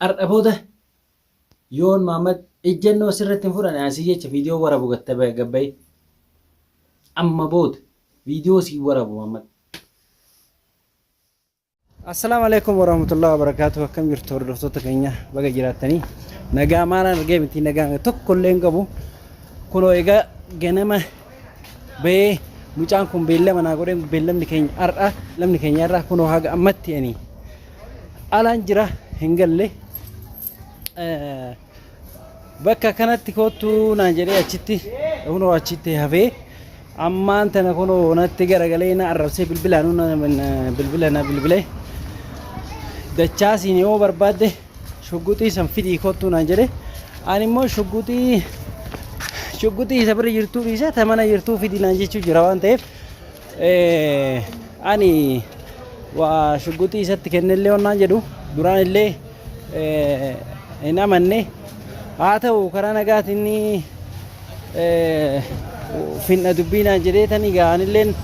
Ardha booda yoon Maammad ijjannoo sirratti hin fudhane aan si jecha viidiyoo warabu gabbayi. Amma booda viidiyoo si warabu Maammad. Assalaamu alaikum warahmatullahi wabarakatuh akkam jirtu hordoftoota keenya baga jiraattanii nagaa maalaan argee miti nagaa tokko illee hin qabu kunoo egaa ganama bahee mucaan kun beellama naa godhee beellamni keenya har'a lamni keenya har'a kunoo haga ammatti ani alaan jira hin galle bakka kanatti koottu naan jedhee achitti kunoo achitti hafee ammaan tana kunoo natti garagalee na arrabsee bilbilaan bilbila na bilbilee dachaasiin yoo barbaadde shugguxii san fidii koottu naan jedhee ani immoo shugguxii shugguxii isa bira jirtuu dhiisa ta mana jirtuu fidii naan jechuu jira waan ta'eef Ani waa shugguxii isatti kennellee wannaan jedhu duraan illee hin amanne haa ta'u karaa nagaatiin finna dubbiinaan jedhee tanii gaa'anilleen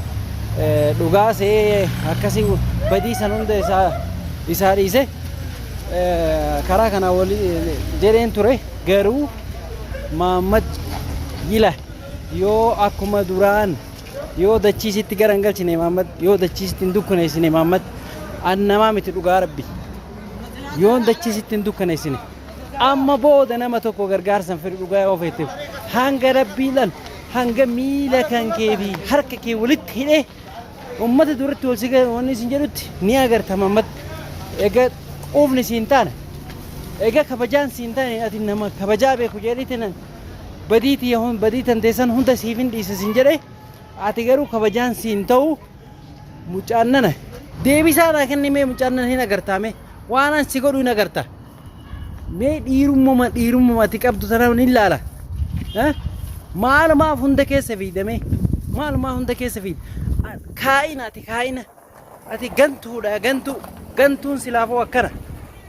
dhugaa se'ee akkasii badii san hunda isaa isaa dhiise karaa kana wali jedheen ture garuu Maammad Yila yoo akkuma duraan Yoo dachii sitti gara hin galchine Imaammad, yoo dachii sitti hin dukkaneessine Imaammad, an namaa miti dhugaa rabbi. Yoon dachii sitti hin dukkaneessine. Amma booda nama tokko gargaarsan fedhu dhugaa yoo feeteef. Hanga rabbiidhaan hanga miila kan kee fi harka kee walitti hidhee ummata duratti wal si ga'e wanni isin jedhutti ni agarta Imaammad. Egaa quufni siin taana. Egaa kabajaan siin taane ati nama kabajaa beeku jedhee tenan badii tiyya hun- badii tantee san hunda siif hin dhiisa sin jedhe ati garuu kabajaan si hin ta'u mucaan nana deebisaa naa kenni mee mucaan nana hin agartaa mee waan an si godhu hin agarta mee dhiirummuma dhiirummuma ati qabdu sana hin laala Eh? maalumaaf hunda keessa fiidamee maalumaa hunda keessa fiida kaa'ina ati kaa'ina Ati gantuudha gantuu gantuun silaafoo akkana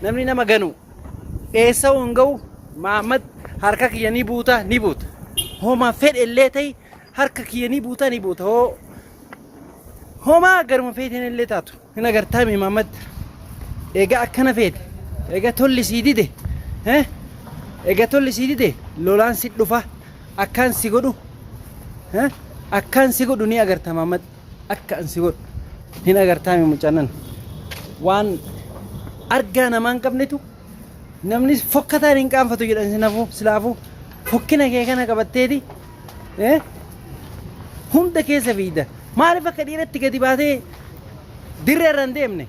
namni nama ganu eessa'uu hin ga'u Mahammad harka kiyya ni buuta ni buuta homa fedhe illee ta'e harka kiyya ni buuta ni buuta hoo homaa garuma feeteen illee taatu hin agartaami Mahammad egaa akkana feete egaa tolli sii dide eh? egaa tolli sii dide lolaan si dhufa akkaan si godhu eh? akkaan si godhu ni agarta Mahammad. akka an si godhu hin agartaami mucannan waan argaa namaa hin qabnetu namni fokkataan hin qaanfatu jedhan sinafu silaafu fokkina kee kana qabatteeti eh? hunda keessa fiigda maaliif akka dhiiratti gadi baatee dirree irra hin deemne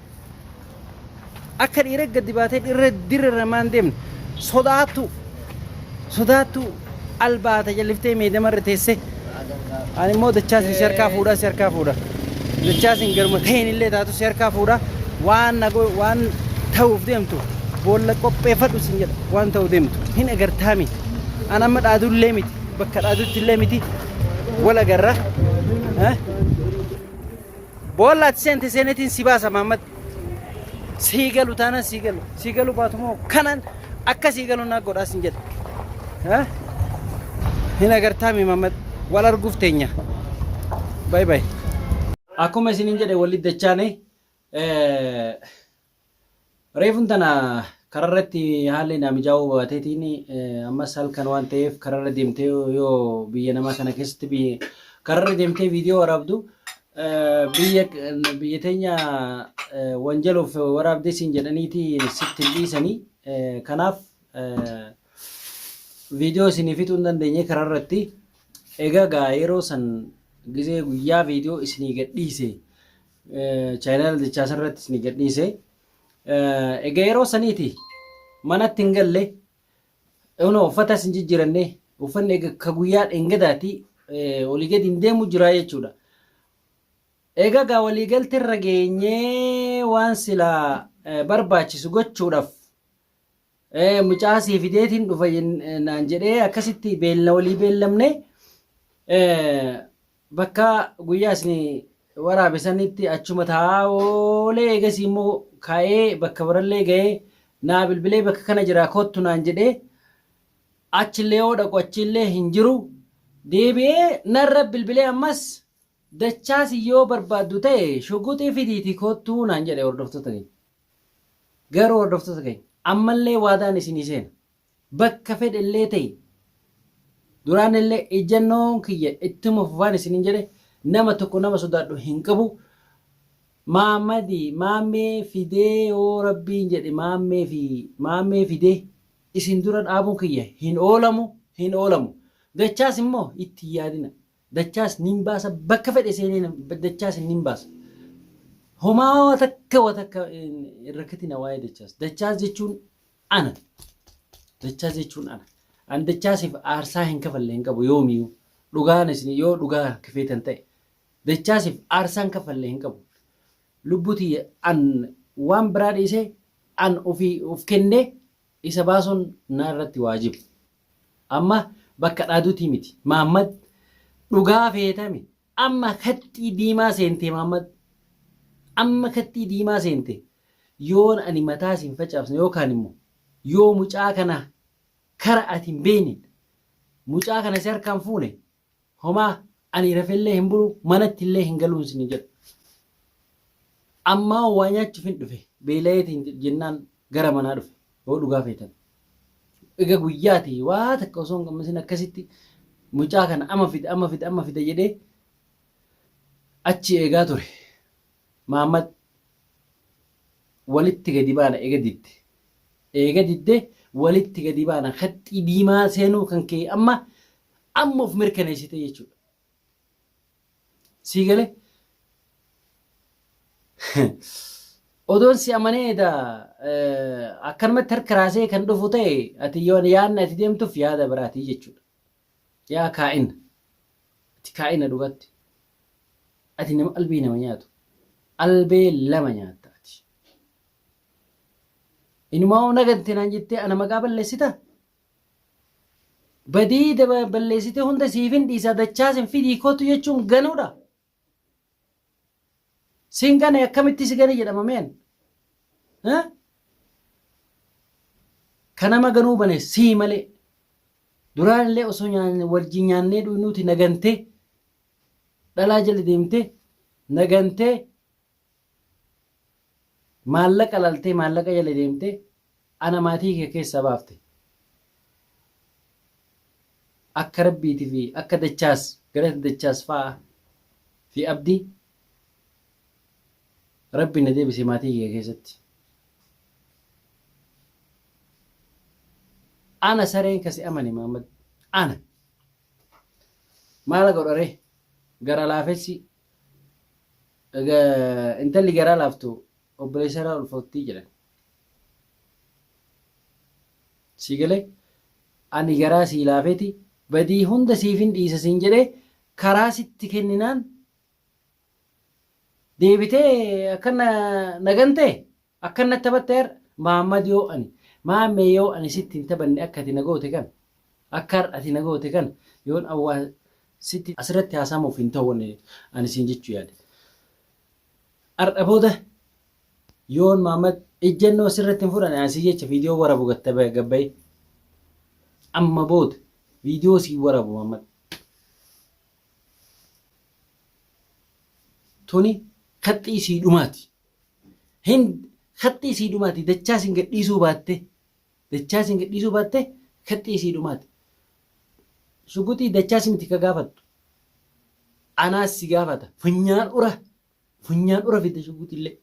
Akka dhiira gadi baatee dhirra dirra irra maan deemne sodaattu sodaattu albaata jalliftee meedama irra teessee ani immoo dachaasin si harkaa fuudhaa si harkaa fuudha dachaasin garuma ta'een illee taatu si harkaa fuudha waan nago waan ta'uuf deemtu boolla qopheeffadhu sin jedha waan ta'u deemtu hin agartaami an amma dhaadullee miti bakka dhaadutti illee miti wal agarra eh? Boolla ati seente seenetiin si baasa Mahammad. Sii galu taanaan sii galu. Sii galu baatu moo kanaan akka sii galu naa godhaa sin jedhe. Ha? Hin agartaa mi Mahammad? Wal arguuf teenya. Bayi bayi. Akkuma isiniin jedhe walitti dachaane eh, Reefun tana kararratti haalli naa mijaa'uu baateetiin ammas halkan waan ta'eef kararra deemtee yoo biyya namaa kana keessatti biyya kararra deemtee viidiyoo waraabdu biyya biyya teenya wanjaluuf waraabdee siin jedhaniiti sitti hin dhiisanii kanaaf viidiyoo isinii fixuu hin dandeenye kararratti egaa gaa yeroo san gizee guyyaa viidiyoo isinii gadhiise chaayinaal jechaa sarratti isin gadhiise. Egaa yeroo saniiti manatti hin galle yoona uffata isin jijjiiranne uffanni egaa ka guyyaa dhengadaati olii gadi hin deemu jira jechuudha. Egaa gaa walii galtee irra geenyee waan silaa barbaachisu gochuudhaaf Ee mucaa sii fideetiin dhufa jen- naan jedhee akkasitti beelna walii beellamne ee, bakka guyyaa isin waraabe sanitti achuma taa'aa oolee eegasii immoo ka'ee bakka barallee ga'ee naa bilbilee bakka kana jira kottu naan jedhee achillee yoo dhaqu achillee hin jiru deebi'ee narra bilbilee ammas dachaasi yoo barbaaddu ta'e shuguxii fidiiti kottuu naan jedhe hordoftoota kee. Garuu hordoftoota keenya ammallee waadaan isinii seena. Bakka fedhe illee ta'e duraan illee ijjannoon kiyya ittuma fufaan isiniin jedhe nama tokko nama sodaadhu hin qabu. Maammadi maammee fidee yoo rabbiin jedhe maammee fi maammee fidee isin dura dhaabuun kiyya hin oolamu hin oolamu. Dachaas immoo itti hin yaadina. Dachaas nin baasa bakka fedhe seenee nan- dachaas hin nin baasa. Homaa waa takka waa takka hin hin rakkatina waa'ee dachaas. Dachaas jechuun ana. Dachaas jechuun ana. An dachaasiif aarsaa hin kafalle hin qabu yoomiyyuu. Dhugaan isin yoo dhugaa kafeetan ta'e. Dachaasiif aarsaa hin kafalle hin qabu. Lubbuu tiyya an waan biraa dhiisee an ofii of kennee isa baasuun na irratti waajiba. Amma bakka dhaadutii miti maammad dhugaa feetami amma kaxxii diimaa seentee maammad amma kaxxii diimaa seente yoon ani mataa sin facaafsne yookaan immo yoo mucaa kana kara ati hin beekneen mucaa kana si harkaan fuune Homaa ani rafeellee hin bulu manattillee hin galuun sin jedhu. Ammaa waa nyaachuufin dhufe beelayeetiin jennaan gara manaa dhufe yoo dhugaa feetan. Ega guyyaati waa takka osoo hin gammasin akkasitti mucaa kana amma fida amma fida amma fida jedhee achi eegaa ture. Maammad walitti gadi baana eega didde. Eega didde walitti gadi baana kaxxii diimaa seenuu kan kee amma Amma of mirkaneessite jechuudha. Sii galee? Odoon si amanee edaa akkanumatti harka raasee kan dhufu ta'e ati yoon yaadni ati deemtuuf yaada biraatii jechuudha. Yaa kaa'ina. Ati kaa'ina dhugatti. Ati nama albee nama nyaatu. Albee lama nyaatta ati. Inumaa naganti naan jettee ana maqaa balleessita. Badii daba- balleessite hunda siifin dhiisa dachaas hin fidii kootu jechuun ganuudha. Sin gane akkamitti si gane jedhama meen? Eh? Ka nama ganuu bane sii malee. Duraan illee osoo nyaanne wajjin nyaannee dhuynuuti nagantee dhalaa jala deemtee nagantee Maallaqa laltee maallaqa jala deemtee ana maatii kee keessaa baafte. Akka Rabbiiti fi akka Dachaas galata Dachaas fa'a fi Abdi Rabbi na deebise maatii kee keessatti. Ana sareen ka si amane Mahammad ana. Maala godha ree gara laafessi Intalli garaa laaftu obboleessa irraa ulfoofti jedhan. Sii galee ani garaa sii laafeeti badii hunda siifin dhiisa siin jedhee karaa sitti kenninaan deebitee akkana nagantee Akkan natti taphatte har'a? Mahammad Yoo ani, Maammee yoo ani sitti hin taphanne akka ati na goote kana, akka har'a ati na goote kana yoon awwaa sitti asirratti haasa'amuuf hin ta'u wani ani siin jechuu yaade. Har'a booda yoon Mahammad ejjennoo sirratti hin fudhanne ani sii jecha viidiyoo warabu gatta gabbayee. Amma booda viidiyoo sii warabu Mahammad. Tuni kaxxii sii dhumaati. Hind haxxii isii dhumaati dachaa sin gadhiisuu baatte dachaa sin gadhiisuu baatte haxxii isii dhumaati. Shuguxii dachaa simiti ka gaafattu anaas si gaafata. Funyaan ura funyaan ura fidda shuguxillee.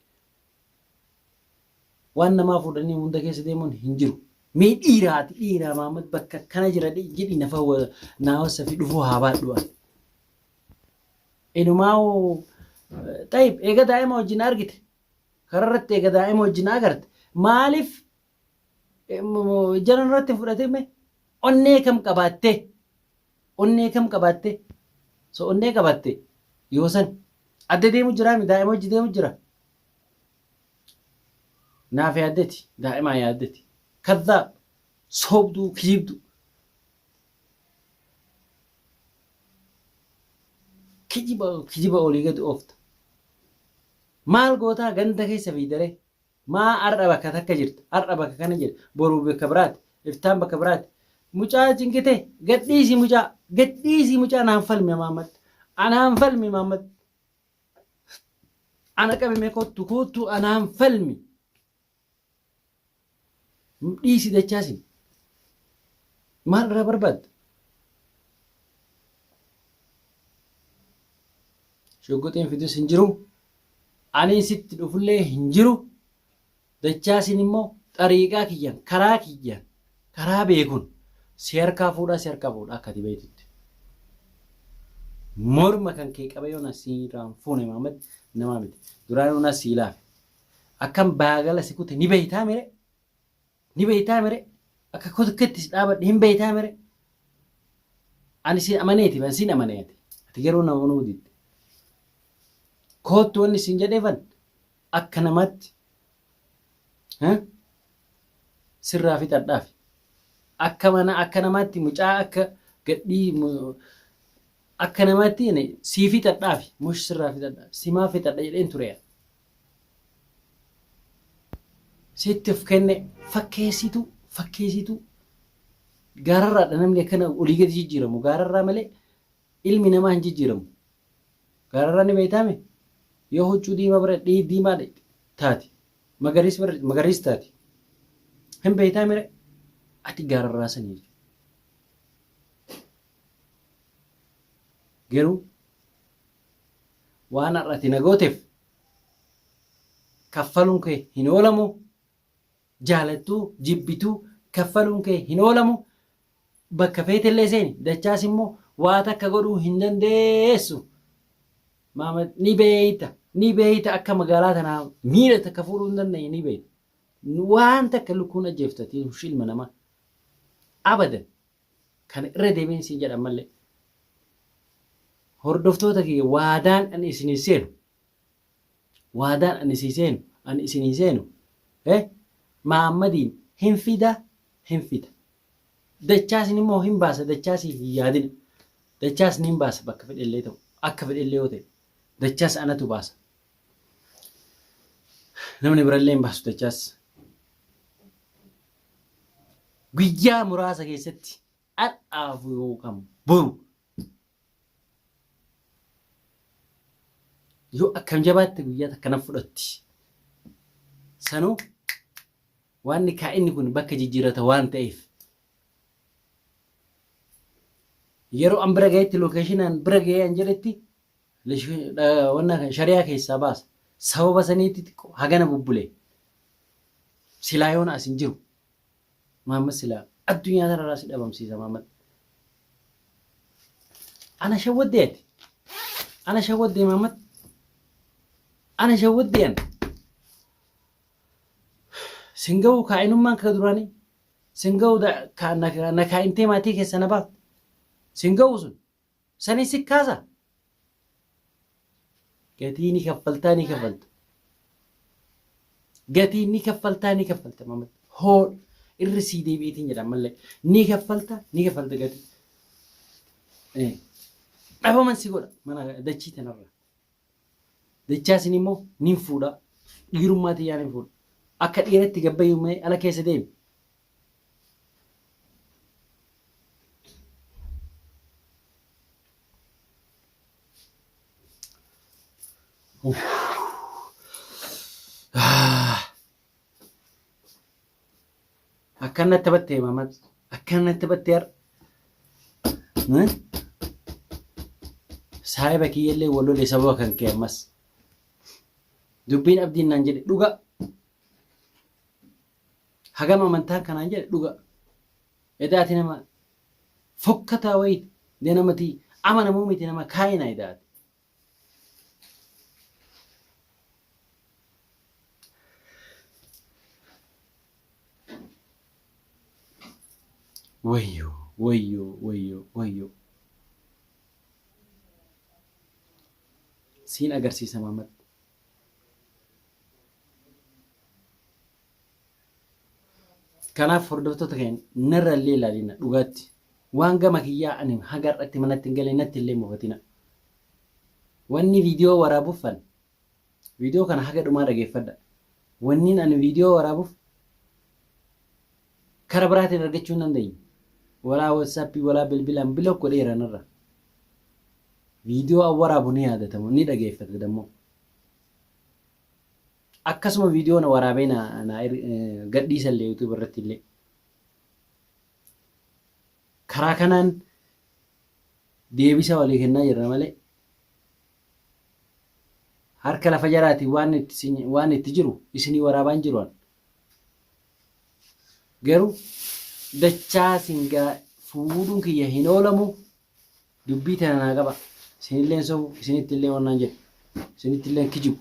Waan namaa fuudhanii hunda keessa deemuun hin jiru. Mee dhiiraa ati dhiiraa Mahammad bakka akkana jira jedhi na fawwa naa wassafi dhufuu haa baadhu ani. Inumaahu xayib eega daa'ima wajjin argite karaa irratti eega daa'ima wajjin agarte maaliif ijjana irratti fudhatime onnee kam qabaatte onnee kam qabaatte so onnee qabaatte yoo san adda deemu jira mi daa'ima wajji deemu jira naaf yaaddeti daa'imaa yaaddeti kadhaab soobduu kiibduu kijiba kijiba olii gad oofta maal gootaa ganda keessa fiidare maa har'a bakka takka jirta har'a bakka kana jirta boruu bakka biraati iftaan bakka biraati mucaa cinqite gadhiisi mucaa gadhiisi mucaa naan falmi maammat anaan falmi maammat ana qabime kottu kottu anaan falmi Dhiisi dachaasi. Maal irraa barbaadda? Shugguxiin fidus hin jiru. Aniin sitti dhufullee hin jiru. Dachaasiin immoo xariiqaa kiyyan karaa kiyyan karaa beekun si harkaa fuudhaa si harkaa fuudha akka ati beektutti. Morma kan kee qabee yoona si irraan fuune Maamad namaa miti. Duraanuu na sii laafe. Akkan baagala si kute ni beektaa mire? Ni beektaa mire? Akka kotketti si dhaabadhe hin beektaa mire? Ani si amaneeti ban sin amane ati. Ati garuu na amanuu didde. Koottu wanni sin jedheefan akka namaatti eh, sirraa fixadhaafi. Akka mana akka namaatti mucaa akka gadhii mu- akka namaatti ani sii fixadhaafi mush sirraa fixadha simaa fixadha jedheen ture. sitti of kenne fakkeessitu fakkeessitu gaararraadha namni akkana olii gadi jijjiiramu gaararraa malee ilmi namaa hin jijjiiramu gaararraa ni beektaame yoo huccuu diimaa bira dhii diimaa taati magariis bira magariis taati hin beektaame ati gaararraa sanii garuu waan har'a ati na gooteef kaffaluun kee hin oolamu jaalattuu jibbituu kaffaluun kee hin oolamu bakka feetellee seeni dachaas immoo waa takka godhuu hin dandeessu maama ni beeyta ni beeyta akka magaalaa tanaa miila takka fuudhuu hin dandeenye ni beeyta waan takka lukkuun ajjeeftatiin ilma namaa abadan Kana irra deebiin siin jedha ammallee. Hordoftoota kiyya waadaan ani isinii seenu waadaan ani isii seenu ani isinii seenu eh maammadiin hin fida hin fida dachaasni immoo hin baasa dachaasiif hin yaadina dachaasni hin baasa bakka fedhellee ta'u akka fedhellee yoo ta'e dachaas anatu baasa namni birallee hin baasu dachaas guyyaa muraasa keessatti har'aafu yookaan boru yoo akkam jabaatte guyyaa takka na fudhatti. Sanuu waan kaa'inni kun bakka jijjiirrata waan ta'eef yeroo an bira ga'etti lookeeshinaan bira ga'ee an jedhetti Wanna shariyaa keessaa baasa. Sababa saniitti xiqqoo hagana bubbulee. Silaa yoona as hin jiru. Maammad silaa addunyaa tanarraa si dhabamsiisa Maammad. Ana shawwaddee ati. Ana shawwaddee Maammad. Ana shawwaddee ana. Sin ga'u kaa'inummaan kee duraanii. Sin ga'u na kaa'intee maatii keessa na baafte. Sin ga'u sun. Sanii si kaasa? Gatii ni kaffaltaa ni kaffalta. Gatii ni kaffaltaa ni kaffalta mamad. Hoo irri sii deebi'iitiin jedha ammallee. Ni kaffalta ni kaffalta gatii. Eh, Dhabaman si godha mana dachii tanarra. Dachaa isin immoo nin fuudha. Dhiirummaa tiyyaanin fuudha. Akka dhiiratti gad bahi mee ala keessa deemi. Uff. Akkan natti battee mamat. Akkan natti battee har. Saahiba kiyyallee wal lole sababa kan kee ammas. Dubbiin abdiin naan jedhe dhuga. Hagam amantaan kanaan jedhe dhuga. Edaati nama fokkataa wayiti. Dee namatii amanamuu miti nama kaayina edaati. Wayyo wayyo wayyo wayyo siin agarsiisa Maamad. Kanaaf hordoftoota keenya narra illee ilaalina dhugaatti. Waan gama kiyyaa ani haga har'atti manatti hin galee natti illee mufatina. Wanni viidiyoo waraabuffan viidiyoo kana haga dhumaa dhageeffadha. Wanniin ani viidiyoo waraabuuf kara biraatiin argachuu hin dandeenye. Walaa watsaappii walaa bilbilaan bilook godheera narra. Viidiyoo an waraabu ni yaadatamu ni dhageeffata dammoo. Akkasuma video na waraabee na na gadhiisa illee YouTube irratti illee. Karaa kanaan deebisa walii kennaa jirra malee harka lafa jaraati waan itti sin- waan itti jiru isinii waraabaan jiru an. Garuu dachaa singaa fuudhuun kiyya hin oolamu Dubbii tana naa qabaa. Isinilleen sobu, isinittilleen wan naan jedhu, isinittilleen kijibu.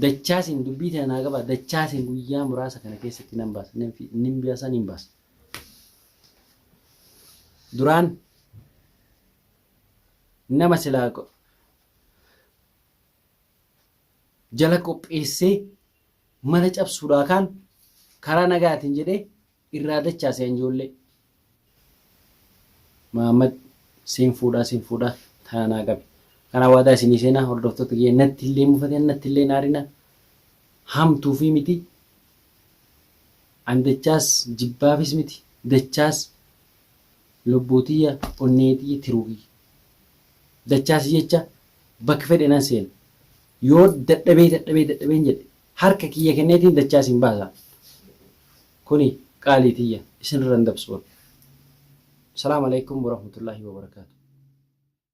Dachaasin dubbii tana naa qabaa. Dachaasin guyyaa muraasa kana keessatti nan baasa. Nan fi- Nin biasa nin baasa. Duraan nama silaa qo- jala qopheessee mana cabsuudhaa kaan karaa nagaatiin jedhee Irraa dachaa sean joollee. Mahammad sin fuudhaa sin fuudhaa tana naa qabi kanaa waadaa isinii seenaa hordoftoota kiyya natti illee hin mufatina natti illee hin aarina hamtuufii miti an dachaas jibbaafis miti dachaas lubbuu tiyya onnee tiyya tiruu kiyya dachaas jecha bakka fedhe nan seena yoo dadhabee dadhabee dadhabeen jedhe Harka kiyya kenneetiin dachaa isin baasa. Kuni qaalii tiyya, isinirra hin dabsu. Assalaamu Aleykum Warahmatullaahi Wabarakaatuh.